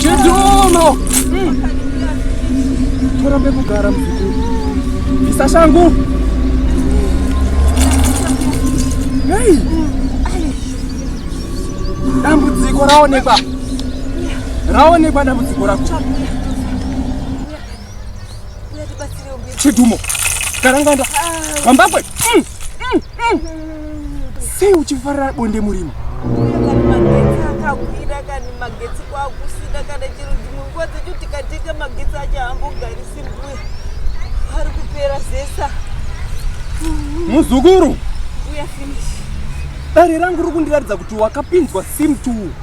Chidolo. Mm. Torambe kugara muzukuru. Isa shangu. Hey. Dambudziko raonekwa. Raonekwa dambudziko rako. Chidumo. Karanganda. Mambakwe. Mm, mm, mm. Sei uchifarira bonde murima? Akagwira kani magetsi kwakusina kana chero dzimwe nguva dzacho tikateka magetsi acho hambogarisi mbuya ari kupera zesa muzukuru dare rangu riri kundiratidza kuti wakapinzwa sim two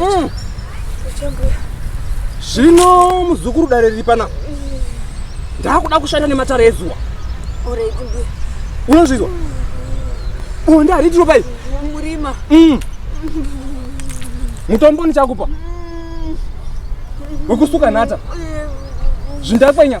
mm. zvino muzukuru dare riri pana ndakuda kushanda nematara ezuwa unozvizwa bonde hariti ropa iri murima mm. mutombo ndichakupa wekusuka nhata zvindakwenya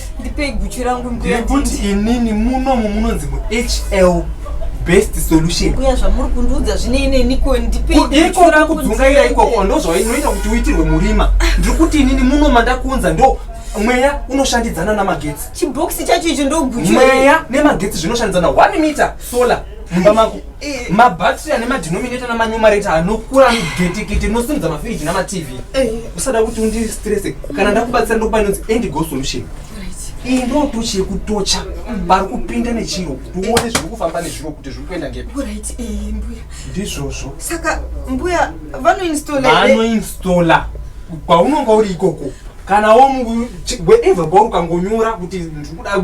ndipei guchu rangu nekuti inini munomu munonzi muhl best solution kuya zvamuri kundiudza zvine ineni ko ndipeikudzungaira ikoko ndozvainoita kuti uitirwe murima ndiri kuti inini muno mandakuunza ndo mweya unoshandidzana namagetsi chibhokisi chacho icho ndoguchu mweya nemagetsi zvinoshandidzana one meter solar mumba mako Eh. mabattery ane madenominator namanumerator anokura anogetekete nosimudza mafiriji namatv eh. usada kuti undistrese kana ndakubatsira ndokupa inonzi endigo solution iyi ndo tochi yekutocha vari kupinda nechiro kuti uone zviri kufamba nezviro kuti zviri kuenda ngepiizvozvo eh, saka mbuya vanoinstallanoinstalla kwaunonga uri ikoko kana wo wherever kwauri ukangonyora kuti ndiri kuda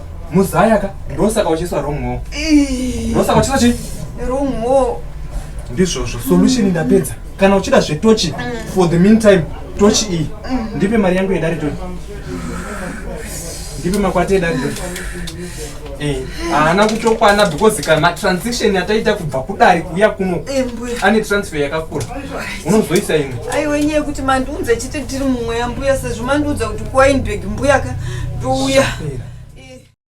muzaya ka ndosaka uchiiswa wrong home ndosaka uchiiswa chii wrong home ndizvozvo solution ndapedza kana uchida zvetochi for the meantime tochi iyi ndipe mari yangu yedare toni ndipe makwati edare toni eh, haana kutokwana because kana matransaction ataita kubva kudare kuya kuno eh, ane transfer yakakura unozoisa ini aiwa nyaya yekuti mandiudza chete tiri mumweya mbuya sezvo mandiudza kuti kuwainbeg mbuyaka ndouya